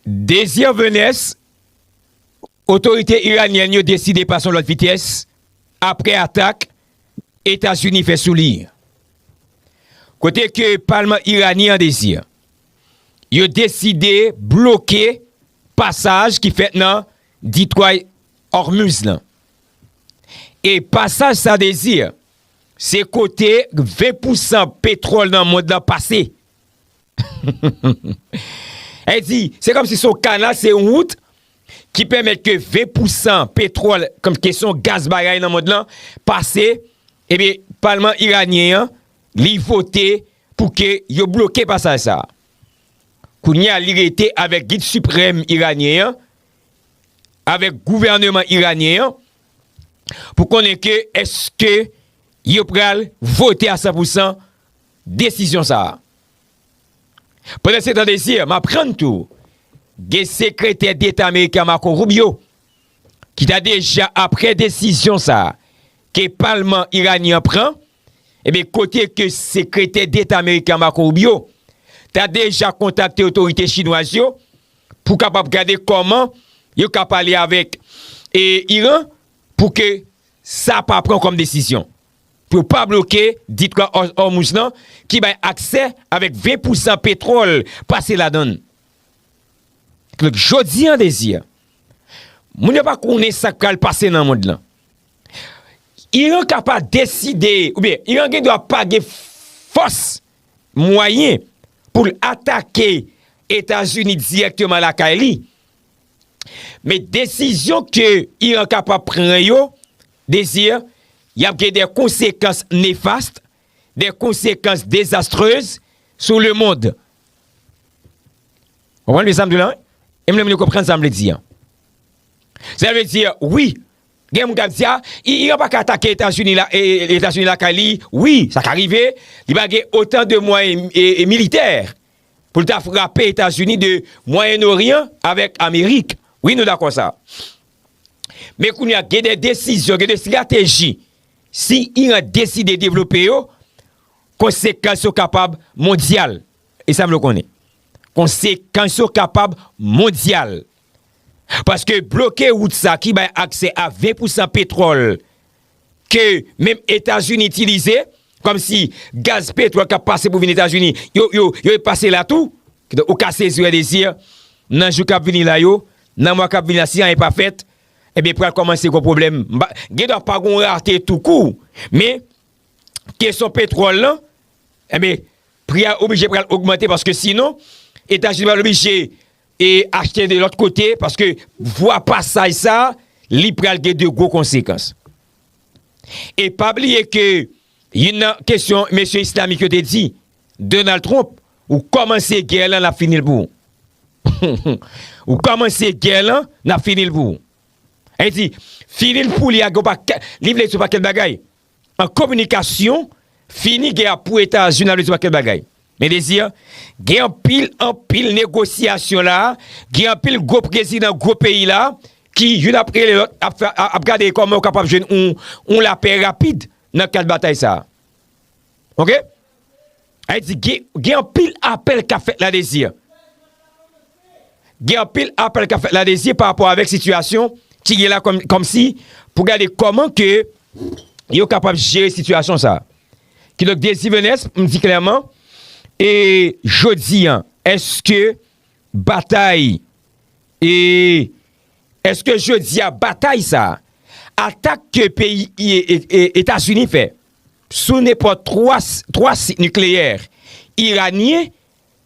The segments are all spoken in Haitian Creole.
Désir Venès, Otorite iranyèn yo deside pase yon lòt vitès apre atak Etazini fè sou li. Kote ke palman iranyen an Désir, yo deside bloke pasaj ki fèt nan ditway Hormuz lan. E pasaj sa Désir, se kote 20 pousan petwòl nan mond lan pase. El di, se kòm si son kanal, se yon wout ki pèmèt ke 20 pousan petròl, kòm si kesyon gaz bagay nan mond lan, pase, ebe, palman iranyen an, li vote pou ke yo bloke pasaj sa. Kounye a li rete avèk gid siprèm iranyen an, avèk gouvèneman iranyen an, pou konnen ke eske yo pral vote a 100 pousan desizyon sa a. Pandansetan Désir, m aprann tou gen Sekretè Deta Ameriken an Marco Rubio ki ta deja apre desizyon sa a ke palman Iranyen an pran, ebyen kote ke Sekretè Deta Ameriken an Marco Rubio ta deja kontakte otorite Chinwaz yo pou kapab gade kòman yo ka pale avèk Iran pou ke sa pa pran kòm desizyon. pou yo pa bloke Ditwa Òmuz lan ki bay aksè avèk 20 pousan petwòl pase ladan l. Donk jodi an dezi a, moun yo pa konnen sa k pral pase nan mond lan. Iran ka pa deside oubyen Iran gen dwa pa gen fòs, mwayen pou l atake Etazini dirèkteman lakay li. Men desizyon ke Iran kapab pran yo, Désir, y ap gen dè konsekans nefast, dè konsekans dezastreuz sou le mond. Konprann byen sa m di w la wi? E m renmen nou konprann sa m vle di an. Sa vle di, wi, gen moun k ap di a, Iran pa ka atake Etazini la, Etazini lakay li. Wi, sa ka rive, li pa gen otan de mwayen militè pou l ta frape Etazini de Mwayen Oryan avèk Amerik. Wi nou dakò sa. Men kounye a gen de desizyon, gen de estrateji si Iran deside devlope yo, konsekans yo kapab mondyal. E sa m vle w konnen. Konsekans yo kapab mondyal. Paske bloke wout sa ki bay aksè a 20 pousan petwòl ke menm Etazini itilize, kòm si gaz petwòl kap pase pou vin Etazini, yo, yo, yo e pase la tou. Kidonk ou ka sezi wè Désir, nan jou kap vini la yo, nan mwa kap vini la si anyen pa fèt, ebyen pral kòmanse gon pwoblèm. M pa, gen dwa pa gon rarte tou kou, men kesyon petwòl lan, enben pri a oblije pral ogmante paske sinon Etazini pral oblije E achte de lòt kote, paske vwa pasaj sa, li pral gen de gwo konsekans. E pa bliye ke, youn nan kesyon mesye islamik yo te di, Donald Trump, ou kòmanse gè lan, nap fini l pou ou. Ou kòmanse gè lan, nap fini l pou ou. Ayiti, fini l pou li a gen yon pakèt, li vle di yon pakèt bagay. an kominikasyon fini gè a pou etazini ap retire pakèt bagay men dezi an gen anpil anpil negosyasyon la gen anpil gwo prezidan gwo peyi la ki youn ap rele lòt ap gade kòman yo kapab jwenn yon lapè rapid nan kad batay sa ok Ayiti gen anpil apèl kap fèt ladezi. Gen anpil apèl kap fèt ladezi pa rapò avèk sitiyasyon ki gen la kòmsi pou gade kòman ke yo kapab jere sitiyasyon sa. Ki donk dezi Venès m di klèman e jodi an eske batay e eske jodi a batay sa atak ke peyi Etazini fè. sou nenpòt 3 sit nikleyè iranyen,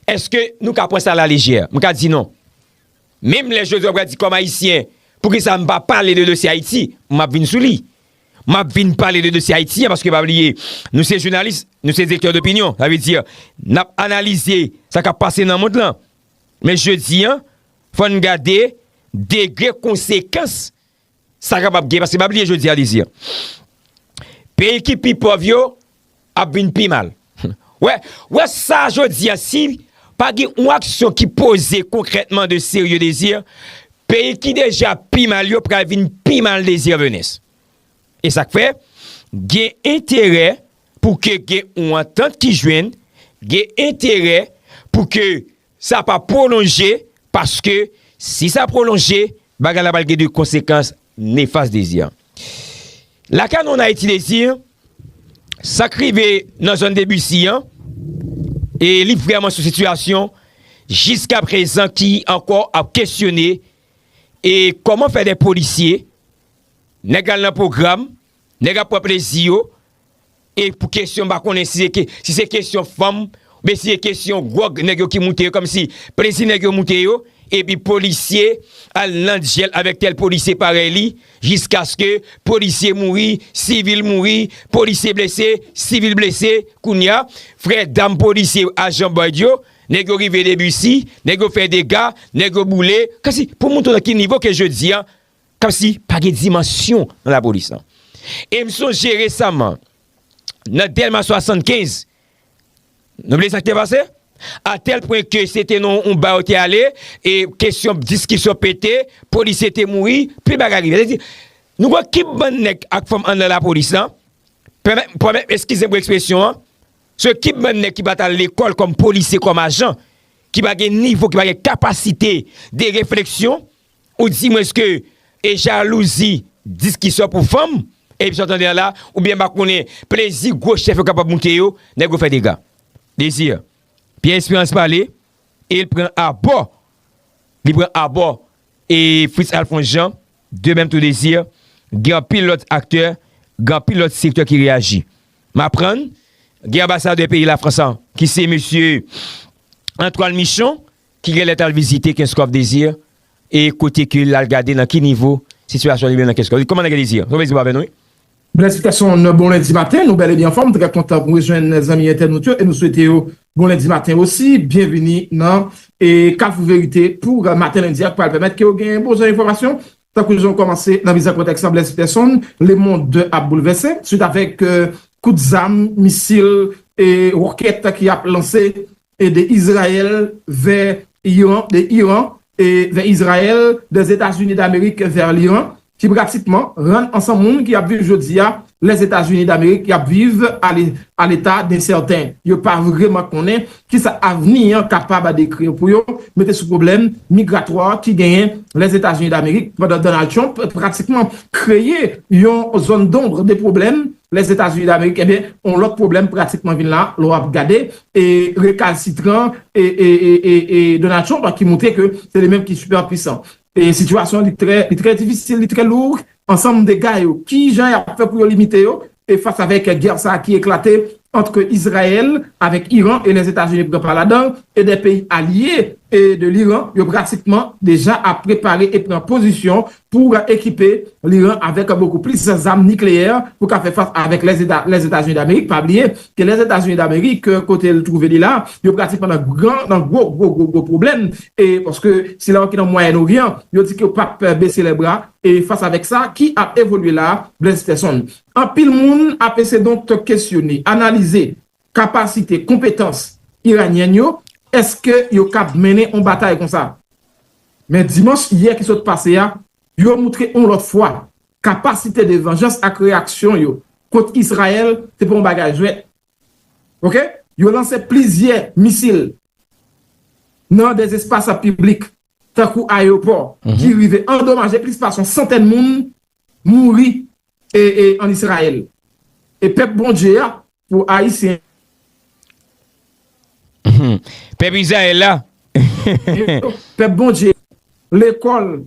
èske nou ka pran sa alaleje? M ka di non. Menm lè Josué pral di kòm Ayisyen, poukisa m pa pale de dosye Ayiti, m ap vin sou li. M ap vin pale de dosye Ayiti an paske pa bliye, nou se jounalis, nou se direktè dopinyon, sa vle di n ap analize sa k ap pase nan mond lan. Men jodi an, fò n gade degre konsekans. Sa kapab gen, paske m ap li jodi a li di, peyi ki pi pòv yo ap vin pi mal. Wè, wè sa jodi a si pa gen yon aksyon ki poze konkrètman de serye dezi, peyi ki deja pi mal yo pral vin pi mal dezi venez. E sa k fè, gen enterè pou ke gen yon antant ki jwenn, gen enterè pou ke Sa pa pwolonje paske si sa pwolonje, bagay la pral gen de konsekans nefas Dezi. Lakay nou an Ayiti Dezi, sa k rive nan zòn Debisi an, e li vrèman sou sitiyasyon jiska prezan ki ankò ap kesyone e kòman fè de polisye, nèg al nan pwogram, nèg ap pran plezi yo, E pou kesyon m pa konnen si se kesyon fanm oubyen si se kesyon gwòg nèg yo ki moute yo kòmsi plezi nèg yo moute yo epi polisye al nan dyèl avèk tèl polisye parèy li jiskaske polisye mouri, sivil mouri, polisye blese, sivil blese kounye a frè dam polisye ajan bòyd yo nèg yo rive debisi nèg yo fè dega nèg yo boule kòmsi pou moutre nan ki nivo ke jodi a Komsi pa gen dimansyon nan lapolis lan. E m sonje resaman, nan Dèlma 75, nou bliye sa ki te pase? A tèl pwen ke se te nan yon ba yo te ale, e kesyon diskisyon pete, polisye te mouri, pil bagay rive. Sa vle di, nou gen yon kip bann nèg ak fanm anndan lapolis lan, pèmèt, eskize m pou ekspresyon an, se yon kip bann nèg ki pa t al lekòl kòm polisye, kòm ajan, ki pa gen nivo, ki pa gen kapasite de refleksyon. Ou di mwen ske e jalouzi diskisyon pou fanm e emisyon tande an la oubyen m pa konnen plezi gwo chèf yo kapab moute yo nèg yo fè dega. Désir, Pierre Espérance pale e l pran abò li pran abò e Fritz Alphonse Jean de mèm tou Désir gen anpil lòt aktè gen anpil lòt sektè ki reyaji. M aprann gen anbasadè peyi Lafrans an ki se mesye Antoine Michon. Ki gen lè t al vizite Kenskòf Désir e kote ke l al gade nan ki nivo sitiyasyon li menm nan Kenskòf. Kòman nèg yo Désir? Sa w vle di pa avè nou wi? Blèsifikasyon yon bon lendi maten, nou bèl e byen anfòm, trè kontan pou rejwenn zanmi entènot yo e nou swete yo bon lendi maten osi, byenvini nan Kafou Verite pou maten lendi a k pral pèmèt ke yo gen bon jan enfòmasyon tankou jan w kòmanse nan mizè kontèks la Blèsifèson, lemond ap boulvèse swit avèk kout zam, misil e ròkèt ki ap lanse de Izrayèl vè Iran, de Iran vè Izrayèl, de Etazini Damerik vè Liran, ki pratikman rann ansanm moun ki ap viv jodi a Lèzetazini Damerik y ap viv a leta densèten. Yo pa vreman konnen ki sa avni an kapab dekri pou yo mete sou pwoblèm migratwa ki genyen Lèzetazini Damerik pandan Donald Trump pratikman kreye yon zone d'ombre de pwoblèm Lèzetazini Damerik, enben yon lòt pwoblèm pratikman vin la lè w ap gade rekalsitran Donald Trump ki montre ke se li menm ki super pwisan. Sitiyasyon li trè difisil, li trè lour, ansanm dega yo, ki jan y ap fè pou yo limite yo fas avèk gè sa ki eklate antr Izrayèl avèk Iran e Lèzetazini pran pa ladan e de peyi alye de Liran yo pratikman deja ap prepare e pran pozisyon pou ekipe Liran avèk bokou plis zam nikleyè pou ka fè fas avèk Lèzetazini Damerik. Pa bliye ke Lèzetazini Damerik kote l twouve li la, yo pratikman nan gran, nan gwo gwo gwo gwo pwoblèm e paske sila yo ki nan Mwayèn Oryan, yo di ke yo pap bese lè bra e fas avèk sa ki ap evolye la a, Blaise Peterson. Anpil moun ap ese donk kesyone, analize. kapasite, konpetans iranyèn yo, èske yo kab mennen yon batay konsa? Men dimanch yè ki sot pase a, yo moutre yon lòt fwa, kapasite de vanjans ak reyaksyon yo kont Israel se pa yon bagay jwèt. Ok, yo lanse plizyè misil nan de espas piblik, tankou ayewopò, ki rive andomaje plis pase yon santèn moun mouri en Israël e pèp Bondye a pou ayisyen. Pèp Israël la. Pèp Bondye lekòl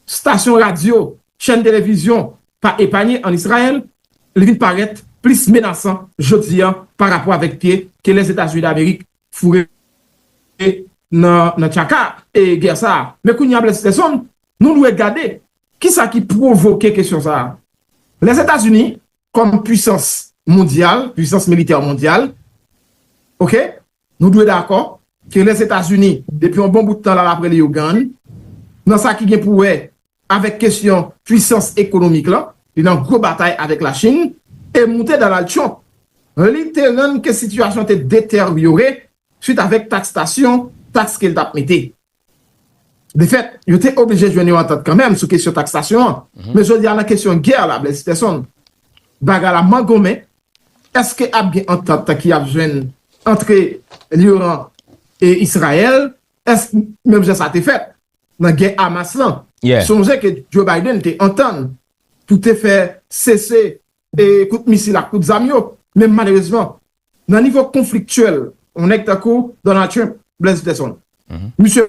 stasyon radyo chèn televizyon pa epanye en Israël li vin parèt plis menasan jodi a pa rapò avèk pye ke Lèzetazini Damerik foure nan tchaka e gè sa a men kounye a Blèdstèson Nou dwe gade ki sa ki pwovoke kesyon sa a. Lèzetazini kòm puisans mondyal, puisans militè mondyal, ok, nou dwe dakò ke Lèzetazini depi yon bon bout tan l al apre Leyogàn nan sa ki gen pou wè avèk kesyon puisans ekonomik lan, li nan gwo batay avèk Lachin, e moute Donald Trump li te rann ke sitiyasyon te detèryore swit avèk takstasyon, taks ke l t ap mete. De fèt, yo te oblije jwenn yon antant kanmenm sou kesyon taksasyon an. Men jodi a nan kesyon gè la, Blaise Persson, bagay la mangonmen. Èske ap gen antant ki ap jwenn antre Liran e Israyèl? Èske menm jan sa te fèt nan gè Hamas lan? Sonje ke Joe Biden te antann pou te fè sese kout misil ak kout zam yo, men malerezman nan nivo konfliktyèl yon nèg tankou Donald Trump, Blaise Peterson, misye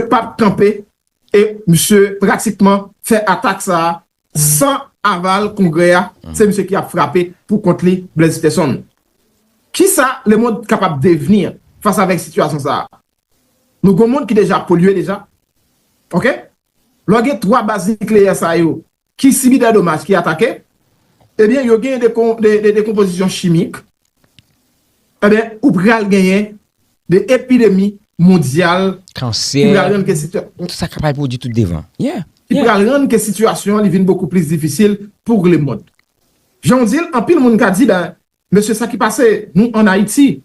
pa p kanpe e misye pratikman fè atak sa a san aval Kongrè a, se misye ki ap frape pou kont li, Blaise Peterson. Kisa lemond kapab devni fas avèk sitiyasyon sa a? Nou gen yon mond ki deja polye deja, ok? Lè w gen 3 baz nikleyè sa yo Ki sibi dè domaj, ki atake, ebyen yo genyen de dekonpozisyon chimik, ebyen ou pral genyen de epidemi mondyal ki pral rann ke sitiyasyon li vin bokou plis difisil pou le mond. Jan ou di l, anpil moun ka di ben Mesye sa ki pase nou an Ayiti,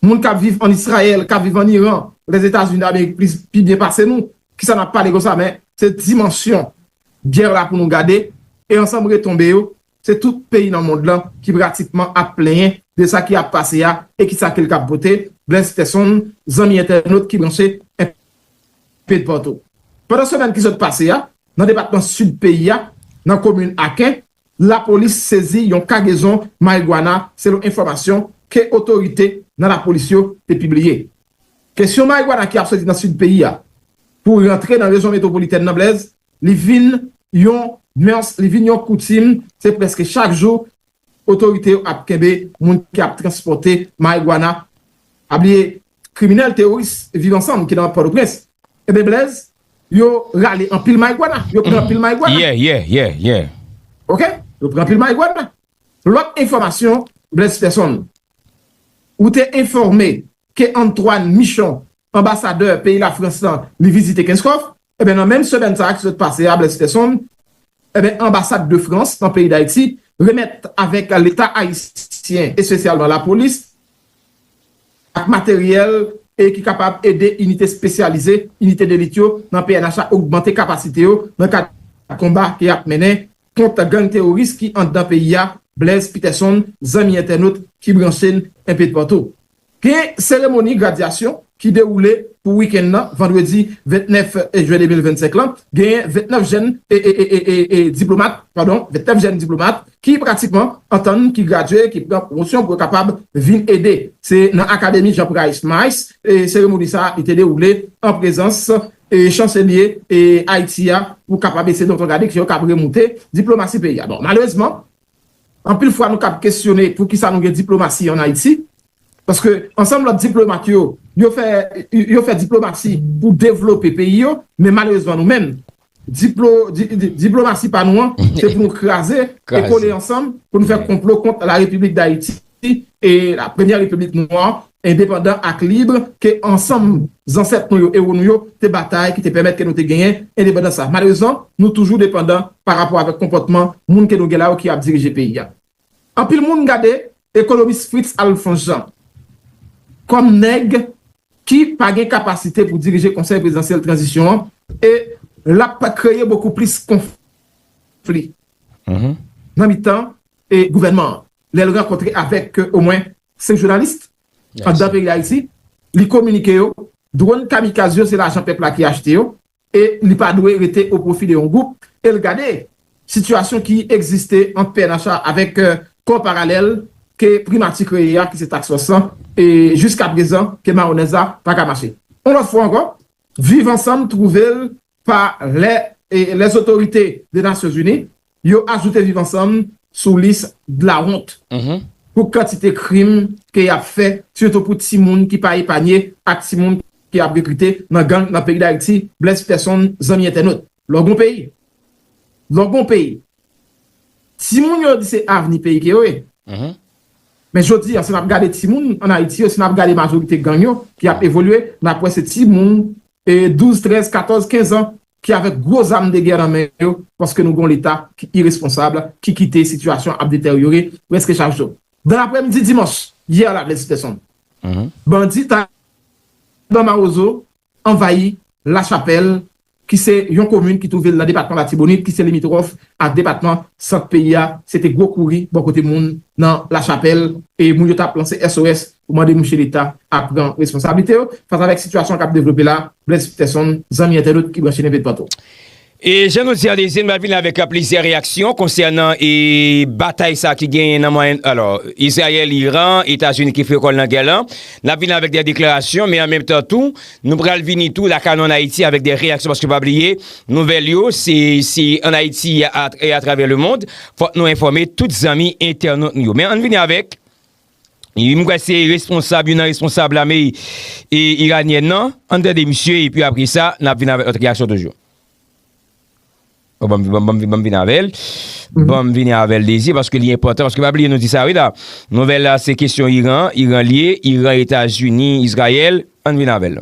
moun kap viv an Israel, kap viv an Iran, Lèzetazini d'Amerik plis pi byen pase nou, kisa nap pale konsa men se dimansyon gè la pou nou gade e ansanm retonbe yo, se tout peyi nan mond lan ki pratikman ap plenyen de sa ki ap pase a e kisa kel kap pote, Blaise Peterson, zanmi entènot ki branche enpe dpatou. Pandan semèn ki sot pase a, nan depatman Sid peyi a, nan komin Aken, Lapolis sezi yon kagezon marijuana selon enfòmasyon ke otorite nan lapolis yo te pibliye. Kesyon marijuana ki ap soti nan sid peyi a pou rantre nan rejyon metwopolitèn nan Blaise, li vin yon mœurs, li vin yon koutim, se prèske chak jou otorite yo ap kenbe moun ki ap transpòte marijuana. Pa bliye kriminèl teworis Viv Ansanm ki nan Pòtoprens enben Blèz yo rale anpil mayigwana yo pran anpil mayigwana Yeah yeah yeah yeah Ok yo pran anpil mayigwana Lòt enfòmasyon Blèz Pèson ou te enfòme ke Antwàn Michon anbasadè peyi Lafrans lan li vizite Kenskòf Enben nan menm semèn sa a ki sot pase a, Blaise Peson, enben anbasad de Frans nan peyi Dayiti remèt avèk leta ayisyen espesyalman lapolis ak materyèl e ki kapab ede inite spesyalize, inite delit yo nan pnh la ogmante kapasite yo nan kad konba ke yap mennen kont gang teworis ki anndan peyi a, Blaise Peterson zanmi entènot ki branche n enpetou patou. Gen seremoni gradyasyon ki dewoule pou wikenn nan vandredi 29 jen 2025 lan, genyen 29 jenn diplomat padon 29 jenn diplomat ki pratikman antann ki gradye ki pran pwomosyon pou yo kapab vin ede se nan akademi Jean Price Mai's seremoni sa li te dewoule an prezans chanselye Ayiti a pou kapab ese donton gade ke yo kab remoute diplomasi peyi a bon malerezman Anpil fwa nou kab kesyone pou kisa nou gen diplomasi an Ayiti, paske ansanm lòt diplomat yo, yo fè diplomasi pou devlope peyi yo, men malerezman nou menm, diplomasi pa nou an, se pou nou kraze e kole ansanm pou nou fè konplo kont la Repiblik Dayiti. la premyè repiblik nwa, endepandan ak lib ke ansanm zansèt nou yo, ewo nou yo, te batay ki te pèmèt ke nou te genyen endepandans sa. Malerezman, nou toujou depandan pa rapò avèk konpòtman moun ke nou gen la yo ki ap dirije peyi a. Anpil moun gade ekonomis Fritz Alphonse Jean kòm nèg ki pa gen kapasite pou dirije Konsèy Prezidansyèl Tranzisyon an e l ap kreye bokou plis konfli nan mitan gouvènman an. lè l rankontre avèk omwen 5 jounalis anndan peyi Dayiti, li kominike yo dwòn kamikaz yo se lajan pèp la ki achte yo e li pa dwe rete o pwofi de yon gwoup e l gade sitiyasyon ki egziste ant pnh a avèk kò paralèl ke primati kreye a ki se Task Force lan e jiskaprezan ke mawonèz la pa ka mache. Yon lòt fwa ankò, Viv Ansanm twouve l pa lè lè zotorite de Nasyon Zini yo ajoute Viv Ansanm sou lis dlawont pou kantite krim ke y ap fè sitou pou timoun ki pa epanye ak timoun ke y ap rekrite nan gang nan peyi Dayiti. Blaise Persson Zanmi entènot, lò gon peyi, lò gon peyi, timoun yo di se avni peyi ke yo ye. Men jodi a si n ap gade timoun an Ayiti yo, si n ap gade majorite gang yo ki ap evolye, n ap wè se timoun 12, 13, 14, 15 an ki avèk gwo zam de gè nan men yo paske nou gen yon leta ki iresponsab ki kite sitiyasyon ap deteryore prèske chak jou. Dan lapremidi dimanch yè la Blaise Peterson, bandi Taliban Mawozo anvayi Lachapèl ki se yon komin ki twouve l nan depatman Latibonit ki se limitwòf ak depatman Sant peyi a. Se te gwo kouri bò kote moun nan Lachapèl e moun yo t ap lanse SOS pou mande mouche Leta a pran responsablite yo fas avèk sitiyasyon an k ap devlope la a, Blaise Peterson, zanmi entènot ki branche Neve Dpanto. E jan nou di Alezyen nou ap vini avèk plizyè reyaksyon konsènan e batay sa ki genyen nan Mwayen alò Izrayèl, Iran, Etazini ki fre kò l nan gè lan n ap vini avèk dè deklarasyon men an menm tan tou nou pral vini tou lakay nou an Ayiti avèk dè reyaksyon paske pa bliye nouvèl yo se se an Ayiti e atravè lemond fòk nou enfòme tout zanmi entènot nou yo men an n vini avèk. Wi m kwè se responsab youn nan responsab lame iranyèn nan ann tande misye epi apresa n ap vin avèk lòt reyaksyon toujou banm banm vin avèl banm vini avèl dezi paske li enpòtan paske pa bliye nou di sa wi la nouvèl la se kesyon iran iran l ye iran etazini izrayèl ann vin avèl.